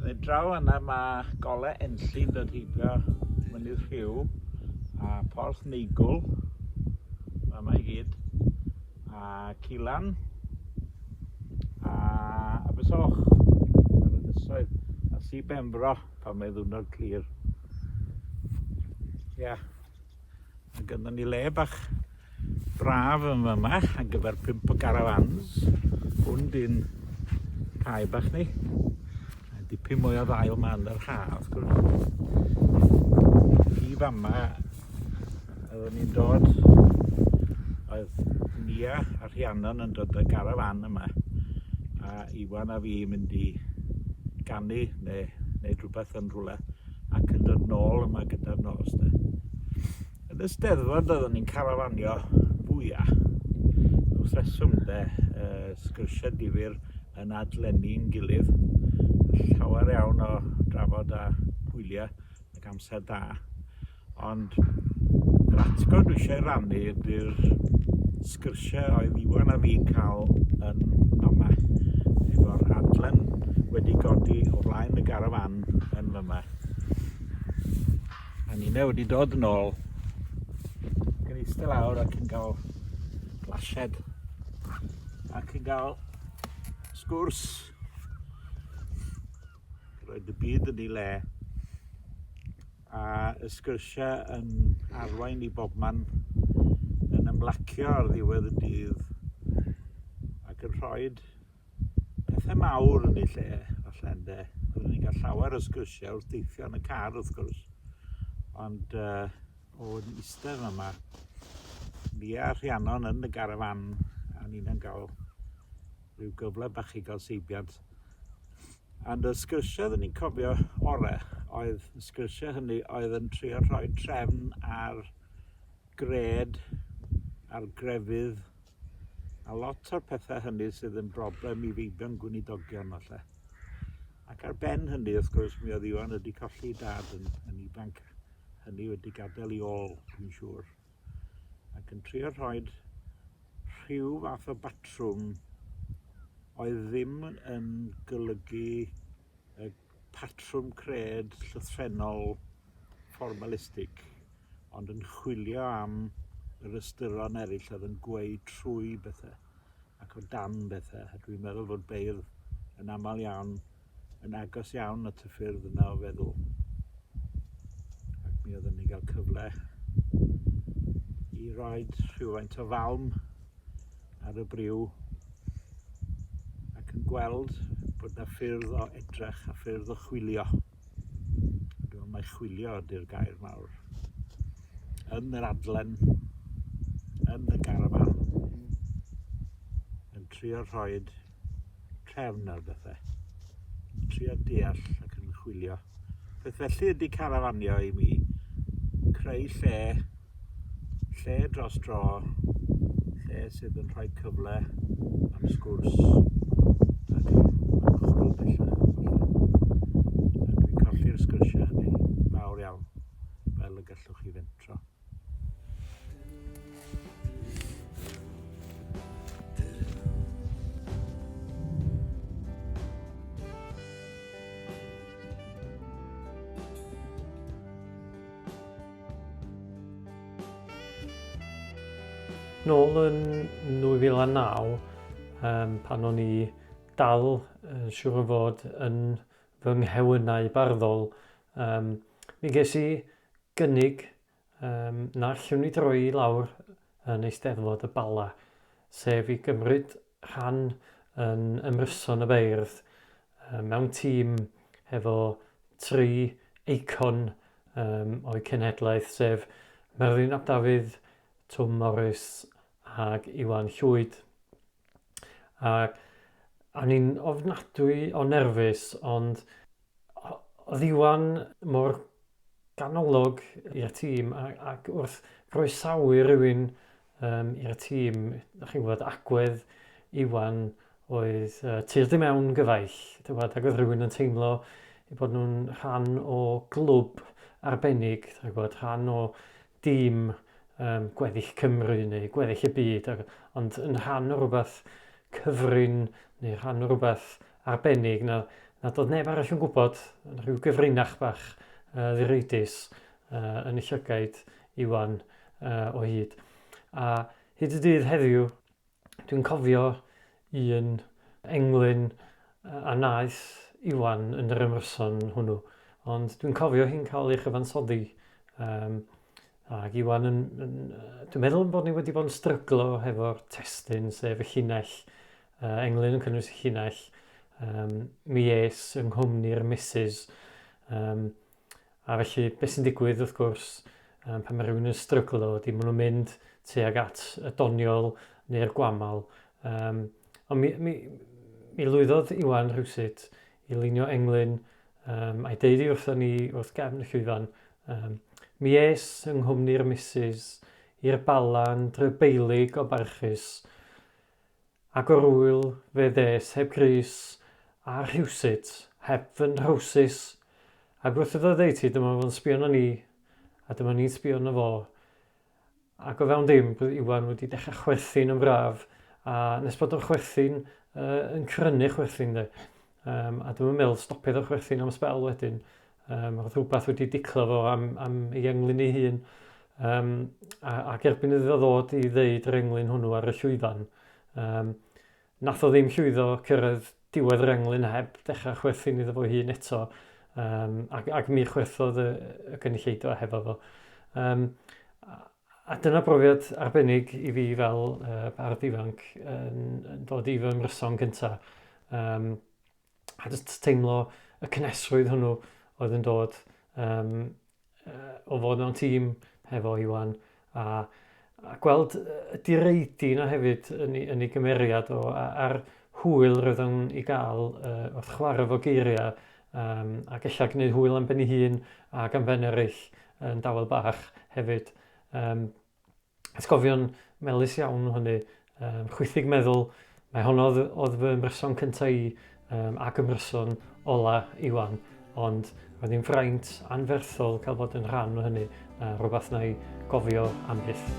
Fe draw yna mae gole enllyn dod heibio mynydd rhyw a porth neigwl mae yma i gyd a cilan a abysoch ar y dysoedd a si benfro pan mae ddwrnod clir. Ia. Yeah. Mae gynno ni le bach braf yn yma ar gyfer pimp o garafans. Hwn di'n cae bach ni. Mae dipyn mwy o ddail ma yn yr haf, wrth gwrs. I fama, oeddwn ni'n dod, oedd Nia a Rhiannon yn dod y garafan yma, a Iwan a fi mynd i ganu neu wneud rhywbeth yn rhywle. ac yn dod nôl yma gyda'r nos de. Yn y steddfod oeddwn ni'n carafanio fwya. Wrth reswm de, uh, sgyrsiau difyr yn adlenni'n gilydd. Llawer iawn o drafod a gwyliau ac amser da. Ond yr atgof dwi eisiau rannu ydy'r sgyrsiau oedd Iwan a fi'n cael yn fama efo'r adlen wedi godi o flaen y garafan yn fama. A Nina wedi dod yn ôl ac yn eistedd lawr ac yn cael glasied ac yn cael sgwrs. Roedd y byd yn ei le. A y sgyrsiau yn arwain i bobman yn ymlacio ar ddiwedd y dydd ac yn rhoi pethau mawr yn ei lle, falle ynde. Oeddwn ni'n cael llawer o sgyrsiau wrth deithio yn y car wrth gwrs, ond uh, o yn eistedd yma, ni a Rhiannon yn y garafan, a ni'n cael rhyw gyfle bach i gael seibiant. And y sgyrsiau oeddwn i'n cofio ore oedd y sgyrsiau hynny oedd yn trio rhoi trefn ar gred, ar grefydd, a lot o'r pethau hynny sydd yn broblem i feibion gwynidogion falle. Ac ar ben hynny, wrth gwrs, mi oedd Iwan wedi colli dad yn, yn ifanc, hynny wedi gadael i ôl, dwi'n siŵr. ac yn trio rhoi rhyw fath o batrwm oedd ddim yn golygu y patrwm cred llythrennol formalistig, ond yn chwilio am yr ystyron eraill oedd yn gweud trwy bethau ac o dan bethau. Dwi'n meddwl fod beirdd yn aml iawn yn agos iawn at y ffyrdd yna o feddwl. Ac mi oedden ni gael cyfle i roi rhywfaint o falm ar y briw ac yn gweld bod yna ffyrdd o edrych a ffyrdd o chwilio. A dwi'n mae chwilio ydy'r gair mawr. Yn yr adlen, yn y garafan, mm. yn trio rhoed trefn ar bethau. Yn trio deall ac yn chwilio. Beth felly ydy carafanio i mi? Creu lle, lle dros dro, lle sydd yn rhoi cyfle am sgwrs ac chwrw bellach. A dwi'n colli'r sgyrsiau hynny, fawr iawn, fel y gallwch chi fentro. nôl yn 2009, um, pan o'n i dal yn siŵr o fod yn fy nghewynau barddol, um, mi ges i gynnig um, na allwn ni droi i lawr yn Eisteddfod y Bala, sef i gymryd rhan yn ymryson y beirdd um, mewn tîm hefo tri eicon um, o'i cenhedlaeth, sef Merlin ap Dafydd, Twm Morris ac Iwan Llwyd. A, a ni'n ofnadwy o nerfus, ond oedd Iwan mor ganolog i'r tîm ac wrth groesawu rhywun um, i'r tîm, da chi'n gwybod, agwedd Iwan oedd uh, tir dim mewn gyfaill, gwybod, ac oedd rhywun yn teimlo i bod nhw'n rhan o glwb arbennig, da chi'n gwybod, rhan o dim um, gweddill Cymru neu gweddill y byd, ar, ond yn rhan o rhywbeth cyfrin neu rhan o rhywbeth arbennig na, na dod neb arall yn gwybod, yn rhyw gyfrinach bach uh, ddireidus uh, yn y llygaid Iwan uh, o hyd. A hyd y dydd heddiw, Dwi'n cofio un englyn a wnaeth Iwan yn yr ymryson hwnnw, ond dwi'n cofio hi'n cael ei chyfansoddi. Um, ac Iwan, yn, yn, dwi'n meddwl bod ni wedi bod yn stryglo hefo'r testyn, sef y llinell, uh, englyn yn cynnwys y llinell, um, mi es yng nghwmni'r misus, um, A felly, beth sy'n digwydd, wrth gwrs, um, pan mae rhywun yn stryglo, ydy maen nhw'n mynd tuag at y doniol neu'r gwamal. Um, ond mi, mi, mi lwyddodd Iwan rhywsut i lunio englyn um, a'i deud i wrthyn ni wrth gefn y llwyfan. Um, mi es yng nghwmni'r misus i'r balan drybeilig o barchus Ac o'r ŵyl fe ddes heb grys a rhywsut, heb fy nhrowsus, ac wrth iddo oddeutu dyma fo'n sbio arno ni, a dyma ni'n sbio arno fo, ac o fewn dim bydd Iwan wedi dechrau chwerthin yn braf, a nes bod o'n chwerthin, yy, yn crynu chwerthin de, um, a dwi'm yn meddwl stopiodd o chwerthin am sbel wedyn, Um, roedd rhywbeth wedi diclo fo am, am ei englyn ei hun. Um, a, ac erbyn iddo ddod i ddeud yr englyn hwnnw ar y llwyfan, um, nath o ddim llwyddo cyrraedd diwedd yr englyn heb dechrau chwerthin iddo fo hun eto um, ac, ac mi chwerthodd y, y gynulleidfa hefo fo. Um, a dyna brofiad arbennig i fi fel uh, bardd ifanc yn, yn dod i fy mryson cyntaf. Um, a just teimlo y cynnesrwydd hwnnw oedd yn dod um, uh, o fod mewn tîm hefo Iwan a, a gweld y direidi yna hefyd yn ei, yn ei gymeriad o a'r hwyl roedd o'n i gael uh, wrth chwarae fo geiriau um, ac eisiau gwneud hwyl am ben ei hun ac am ben eraill yn dawel bach hefyd. Um, Atgofion melys iawn o hynny, um, chwythig meddwl, mae honno oedd fy ymryson cyntaf i um, ac ymryson ola Iwan, ond roedd hi'n fraint anferthol cael bod yn rhan o hynny, a rhywbeth na'i gofio am byth.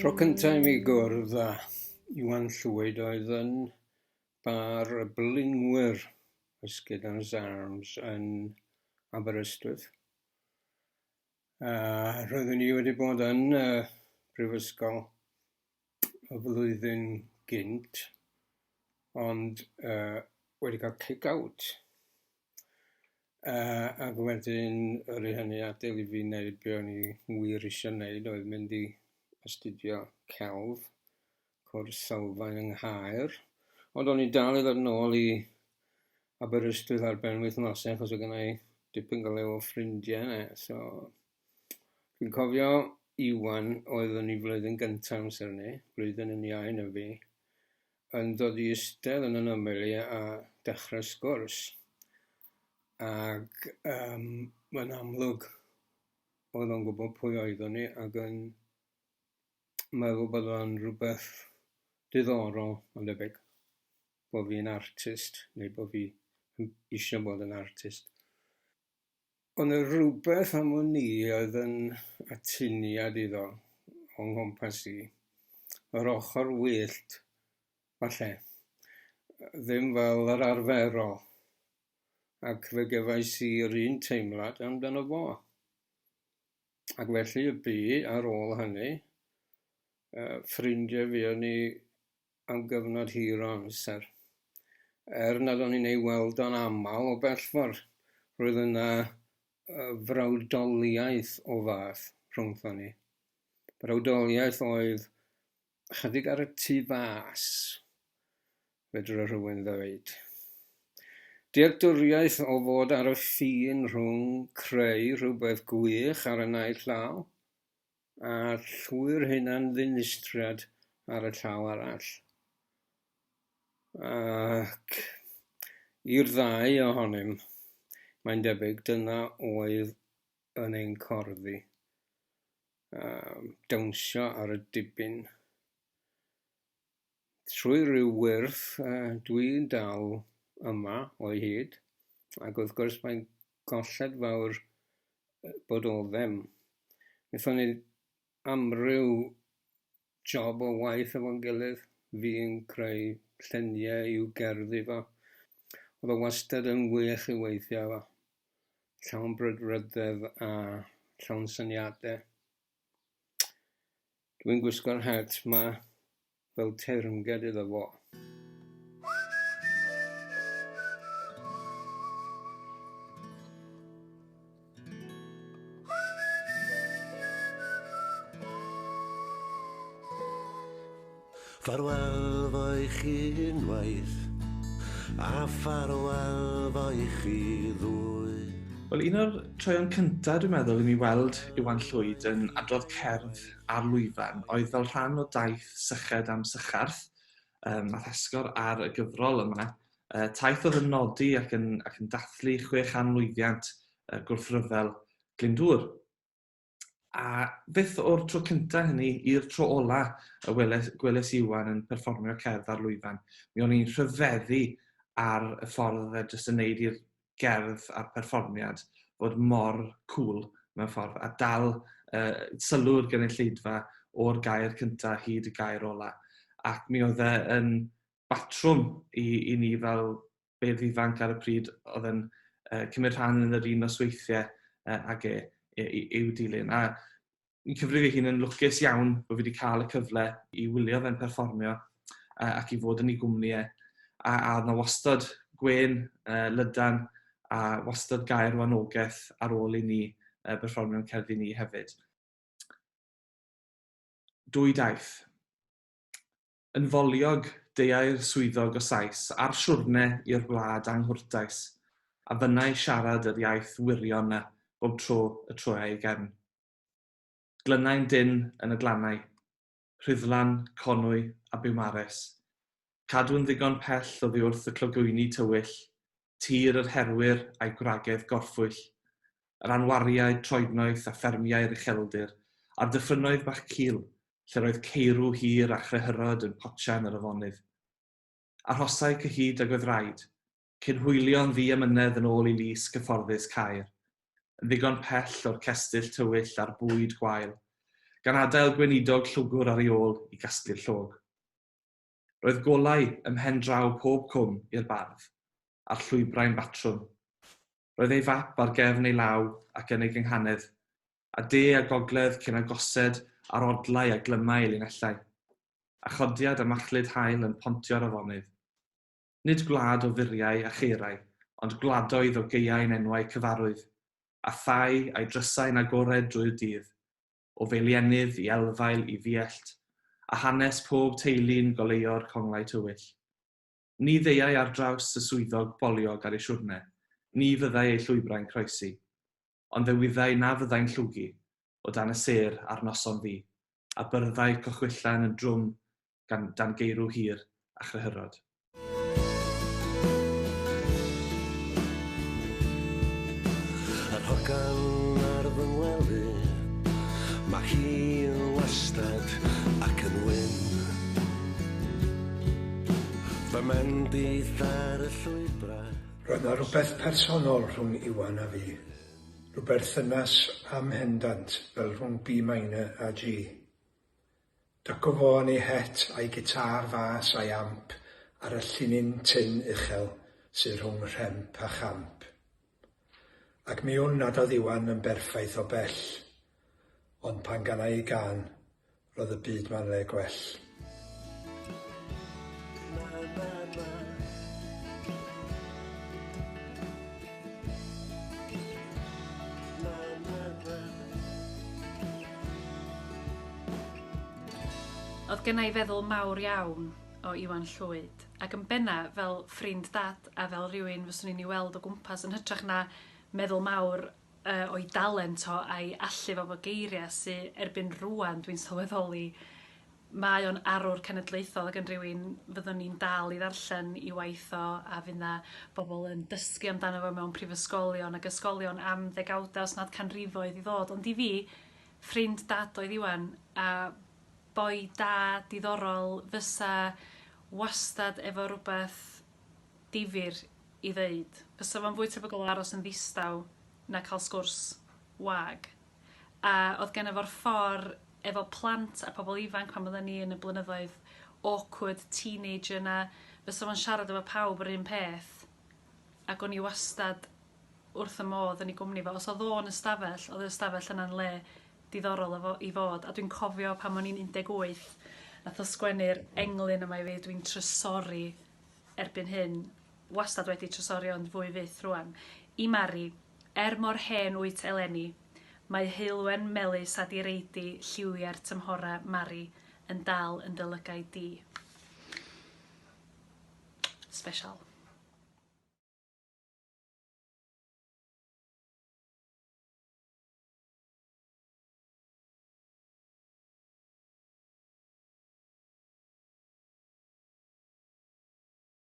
Tro cyntaf i mi gwrdd â Iwan Llwyd oedd yn bar y blingwyr Ysgyd Arms yn Aberystwyth. A roeddwn i wedi bod yn y brifysgol y flwyddyn gynt, ond yy wedi cael kick-out, yy ac wedyn yr i hynny adael i fi neud be o'n i wir isio neud oedd mynd i astudio celf, Cwrs sylfaen yng Nghaer, ond o'n i'n dal i ddod nôl i Aberystwyth ar ben wythnosau achos oedd gennau dipyn go lew o ffrindiau yna. So, dwi'n cofio Iwan oedd yn ei flwyddyn gyntaf amser ni, blwyddyn yn iau na fi, yn dod i eistedd yn yn ymyl i a dechrau sgwrs. Ac um, mae'n amlwg oedd o'n gwybod pwy oeddwn ni ac yn Mae fo bod o'n rhywbeth diddorol ma'n debyg bo' fi'n artist neu bo' fi yn isio bod yn artist. O' 'na rwbeth am wn i oedd yn atyniad iddo o nghwmpas i yr ochor wyllt falle yy ddim fel yr arferol ac fe gefais i yr un teimlad amdano fo. Ac felly y bu, ar ôl hynny, uh, ffrindiau fi o'n ni am gyfnod hir o amser. Er nad o'n i'n ei weld o'n aml o bellfordd, roedd yna uh, frawdoliaeth o fath rhwngthon ni. Brawdoliaeth oedd Ychydig ar y tu fas, fedra rhywun ddweud. Dealltwriaeth o fod ar y ffin rhwng creu rhywbeth gwych ar y naill llaw a llwyr hunan ddinistriad ar y llaw arall. Ac i'r ddau ohonym, mae'n debyg dyna oedd yn ein corddi. um, dawnsio ar y dibyn. Trwy rhyw wyrth, uh, dwi'n dal yma o'i hyd, ac wrth gwrs mae'n golled fawr bod o ddim. Nethon ni amryw job o waith efo'n gilydd, fi'n creu lluniau i'w gerddi fo. Oedd o wastad yn wych i weithio efo. Llawn brwdfrydedd a llawn syniadau. Dwi'n gwisgo'r het ma fel teyrnged iddo fo. Ffarwel fo i chi unwaith, a ffarwel fo i chi ddwy. Wel, un o'r troeon cyntaf, dwi'n meddwl, i mi weld Iwan Llwyd yn adrodd cerdd ar lwyfan oedd fel rhan o daith Syched am Sycharth, um, nath esgor ar y gyfrol yma, Uh, taith oedd yn nodi ac yn, ac yn dathlu chwe chan lwyddiant uh, gwrthryfel Glyndŵr. A beth o'r tro cyntaf hynny i'r tro ola y weles, gweles Iwan yn perfformio cerdd ar lwyfan. Mi o'n i'n rhyfeddu ar y ffordd oedd e jyst yn neud i'r gerdd a'r perfformiad fod mor cool mewn ffordd a dal uh, sylw'r gynulleidfa o'r gair cyntaf hyd y gair ola. Ac mi oedd e yn batrwm i, i ni fel beirdd ifanc ar y pryd oedd yn uh, cymryd rhan yn yr un nosweithiau uh, ag e, e, e, i'w dilyn. A yn cyfrif ei hun yn lwcus iawn bod fi wedi cael y cyfle i wylio fe'n perfformio uh, ac i fod yn ei gwmni e. A, a oedd na wastad gwen uh, lydan a wastad gair o anogaeth ar ôl i ni uh, berfformio'n cerddi ni hefyd. Dwy daith. Yn foliog, deuai'r swyddog o Sais a'r siwrne i'r wlad anghwrtais, a fynnai siarad yr iaith wirion 'na bob tro y troiai ei gefn. Glynnai'n dynn yn y glannau, Rhuddlan, Conwy a Biwmares. Cadw'n ddigon pell oddiwrth y clogwyni tywyll, tir yr herwyr a'i gwragedd gorffwyll, yr anwariaid troednoeth a ffermiau'r ucheldir, a'r dyffrynnoedd bach cul, lle'r oedd ceirw hir a chrehyrod yn potsian yr afonydd. Arhosai cyhyd ag oedd raid, cyn hwylio'n ddu amynedd yn ôl i lys gyfforddus Caer, yn ddigon pell o'r cestyll tywyll a'r bwyd gwael, gan adael gweinidog llwgwr ar ei ôl i gasglu'r llog. Roedd golau ym mhen draw pob cwm i'r bardd, a'r llwybrau'n batrwm. Roedd ei fap ar gefn ei law ac yn ei gynghanedd, a de a gogledd cyn agosed ar odlau a glymau ei linellau, a chodiad a machlud haul yn pontio'r afonydd. Nid gwlad o furiau a cheirau, ond gwladoedd o gaeau'n enwau cyfarwydd, a thai a'i drysau'n agored drwy'r dydd, o Feilienydd i Elfail i Fiellt, a hanes pob teulu'n goleuo'r conglau tywyll. Ni ddeuai ar draws y swyddog boliog ar ei siwrne, ni fyddai ei llwybrau'n croesi, ond fe wyddai na fyddai'n llwgu o dan y sêr ar noson ddu, a byrddai cochwyllau yn y drwm gan dan geirw hir a chryhyrod. Yr hogan ar fy ngwely, mae hi yn wastad ac yn wyn. Fy mendith ar y llwybrau. Roedd na rywbeth personol rhwng Iwan a fi. Rhyw berthynas amhendant fel rhwng B minor a G. Dacofon ei het a'i gitâr fas a'i amp ar y llinyn tynn uchel sy rhwng rhemp a champ. Ac mi wn nad oedd Iwan yn berffaith o bell, ond pan ganai ei gân, roedd y byd ma'n le gwell. Na, na, na. Oedd gynna i feddwl mawr iawn o Iwan Llwyd, ac yn benna fel ffrind Dad a fel rhywun fyswn i'n ei weld o gwmpas yn hytrach na meddwl mawr uh, o'i dalent o a'i allu fo bod geiriau sy erbyn rwan dwi'n sylweddoli Mae o'n arwr cenedlaethol ac yn rhywun fyddwn ni'n dal i ddarllen i waith o a fydd 'na bobl yn dysgu amdano fo mewn prifysgolion ac ysgolion am ddegawda os nad canrifoedd i ddod ond i fi, ffrind Dad oedd Iwan a boi da, diddorol fysa wastad efo rwbeth difyr i ddeud. Fysa fo'n fwy tebygol o aros yn ddistaw na cael sgwrs wag. A odd genno fo'r ffor efo plant a pobl ifanc pan odden ni yn y blynyddoedd awkward teenager 'na fysa fo'n siarad efo pawb yr un peth ac o'n i wastad wrth y modd yn 'i gwmni fo. Os odd o'n ystafell odd yr ystafell yna'n le diddorol o fo- i fod a dwi'n cofio pan o'n i'n 18 nath o sgwennu'r englyn yma i fi dwi'n trysori erbyn hyn wastad wedi trysori ond fwy fyth rŵan i Mari Er mor hen wyt eleni, mae heulwen melys a direidi lliwiau'r tymhorau Mari yn dal yn dy lygaid di. Special.